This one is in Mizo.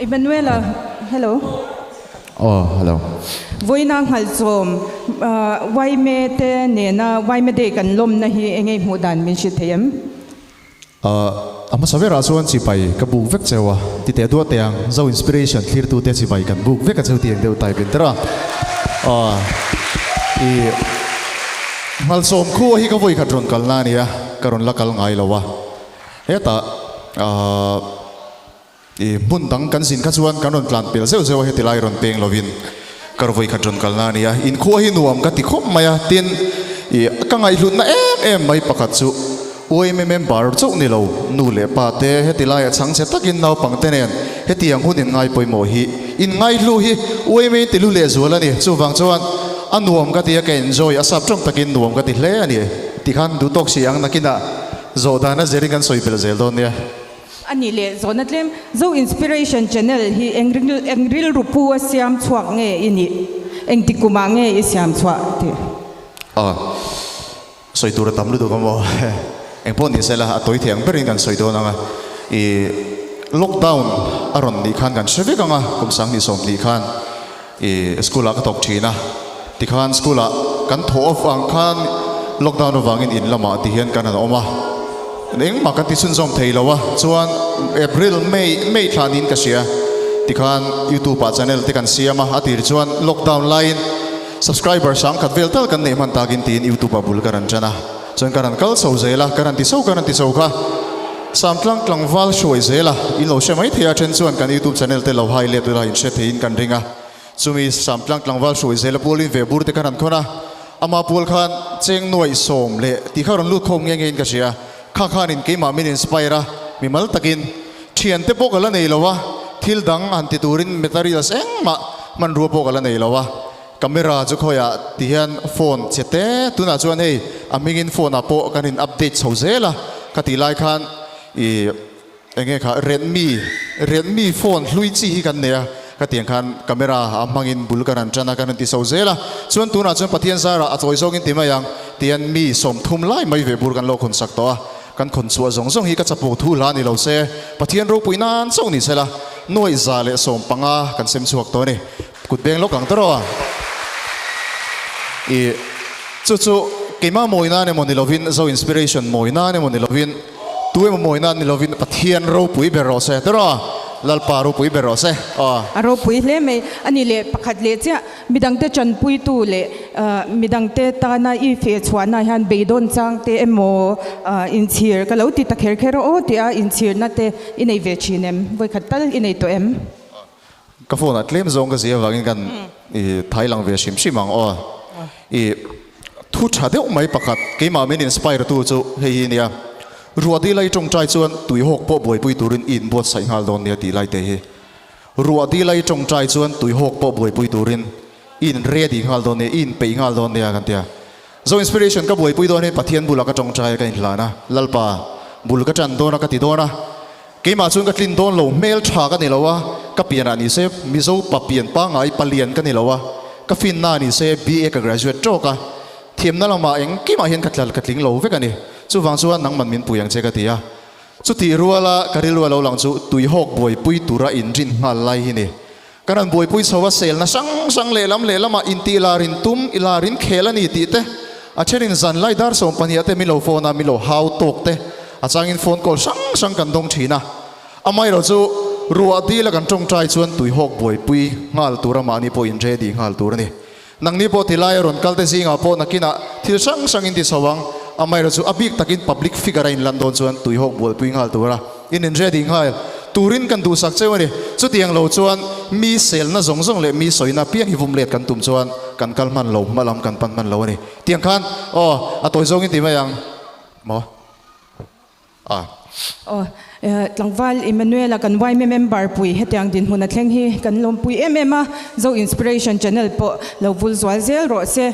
Emmanuela, Hello. Aw, hello. Vawiina hngalh chawm, Vaime te nena Vaime Day kan lawmna hi eng nge hmuh dan min hrilh theih em? A hmasa berah chuan chipai ka buk vek cheu a, titeh duah teh ang, zo inspiration thlirtu te chipai kan buk vek a cheu tih eng deuh type in tera i hngalh chawm khu hi ka vawi khat rawn kalna a nia, ka rawn la kal ngai lo a. Hetah ahh ih hmun dang kan zin kha chuan kan rawn tlan pel zeuh zeuh a heti lai rawn peng lovin ka rawvawi khat rawn kalna a nia. Inkhuaah hi nuam ka ti khawp mai a tin ih a ka ngaihhlutna em em mai pakhat chu uaim em em bar chauh ni lo nu leh pa te heti laiah chhang che takin naupang te nen heti ang hun in ngai pawimawh hi in ngaihlu hi uaim a in tihlu leh zual a ni. Chuvang chuan a nuam ka ti a ka enjoy a sap tawng takin nuam ka ti hle a ni. Tikhan duhtawk si ang nakinah. Zawh dana zir in kan sawi belh zel dawn nia. A nih leh zawh na tlem. Zo inspiration channel hi eng eng rilru pu a siam chhuak nge i nih? Engti kum ah nge i siam chhuah tih? Aw. Sawi tur a tam lutuk a maw. Eng pawh ni se la a tawi thei ang ber in kan sawi dawn ang a. I lockdown a rawn nih khan kan hre vek ang a kum sang hnih sawm hnih khan. I school ah ka tawp thin a, tikhan school ah kan thaw avang khan lockdown avangin in lamah ti hian kan han awm a, engmah kan ti chhunzawm thei lo a, chuan April, May, May thla niin ka hria, tikhan YouTube ah channel te kan siam a, a tir chuan lockdown laiin subscriber sangkhat vel tal kan neih hman takin tiin YouTube ah bul ka rawn tan a. Chuan ka ra'n kal chho zel a, ka ra'n ti chho, ka ra'n ti chho kha. Sam tlang tlangval hruai zel a, in lo hre mai thei a then chuan kan YouTube channel te lo high let ula in hre thei in kan ring a. Chumi sam tlang tlangval hruai zel a pual in ve bur te ka ra'n khawn a, ama pual khan cheng nuaih sawm leh ti kha rawn lut khawm nge nge in ka hria. Kha khan in keimah min inspire a, mi mal tak in. Thian te pawh ka la nei lo a, thil dang han ti tur in materials eng mah hmanrua pawh ka la nei lo a. Camera chu khawi ah ti hian phone che te tunah chuan hei a hmingin phone ah pawh kan in update chho zel a ka tih lai khan ih eng nge kha redmi redmi phone hlui chi hi kan nei a ka ti ang khan camera a hmangin bul kan han tan a kan han ti chho zel a chuan tunah chuan pathian zar ah a chawi zawngin ti mai ang ti hian mi sawm thum lai mai ve bur kan lo khawn chak tawh a kan khawn chhuah zawng zawng hi ka chapawh thu hla ni lo se pathian ropui nan chauh ni sela nuaih za leh sawm panga kan sem chhuak tawh a ni. Kut beng lawk ang ta rawh a. I chu chu keima mawi nan emaw ni lovin zo inspiration mawi nan emaw ni lovin tu emaw mawi nan ni lovin Pathian ropui ber rawh se ta rawh a, Lalpa ropui ber rawh se aw. A ropui hle mai a ni le pakhat leh chiah mi dangte tanpuitu leh mi dangte tana i fe chhuahna hian beidawn changte emaw inchhir ka lo ti ta kher kher a aw tia inchhirna te i nei ve thin em? Vawikhat tal i nei tawh em? Ka phone ah tlem zawng ka zia avangin kan i thai lang ve hrim hrim ang aw i thu tha deuh mai pakhat keimah min inspire tu chu hei hi a nia ruah dil ai tawngtai chuan tui hawk pawh buaipui turin i in buatsaih nghal dawn nia tih lai te hi ruah dil ai tawngtai chuan tui hawk pawh buaipui turin i in ready nghal dawn nia i in peih nghal dawn nia kan tia Zo inspiration ka buaipui dawn hi Pathian bula ka tawngtaia ka inhlan a, Lalpa, bul ka tan dawn a ka ti dawn a, keimah chuan ka tlin dawn lo, hmel tha ka ni lo a, ka pianah ni se, Mizo pa pian pangai pa lian ka ni lo a, ka finna ni se, BA ka graduate tawk a, thiamna lamah engkimah hian ka tlal ka tling lo vek a ni, chuvang chuan nangman min pui ang che ka ti a. Chutih ruala ka rilru a lo lang chu tuihawk buaipui tura in rin nghal lai hi ni, Ka rawn buaipui chho a, selna hrang hrang lehlam lehlamah inti ila rin tum, ila rin khel a ni tih te, a thenin zan lai dar sawm pahnih ate min lo phone a, min lo hau tawk te, a changin phone call hrang hrang kan dawng thin a. Amaherawh chu ruah dil a kan tawngtai chuan tuihawk buaipui nghal tura mahni pawhin ready nghal tur a ni. Nangni pawh tilai a rawn kalte zingah pawh nakinah thil hrang hrangin ti chho ang. Amaherawhchu chu a bik takin public figure a inlan dawn chuan tuihawk buaipui nghal tura in inready nghal turin kan duhsak cheu a ni. Chutiang lo chuan mi selna zawng zawng leh mi sawina apiang hi vum let kan tum chuan kan kal hman lo, hma lam kan pan hman lo a ni. Tiang khan aw a tawi zawngin ti mai ang maw? a. Aw, tlangval Emmanuel-a kan YMM member pui hetiang dinhmun a thleng hi kan lawmpui em em a, Zo Inspiration Channel pawh lo vulzual zel rawh se.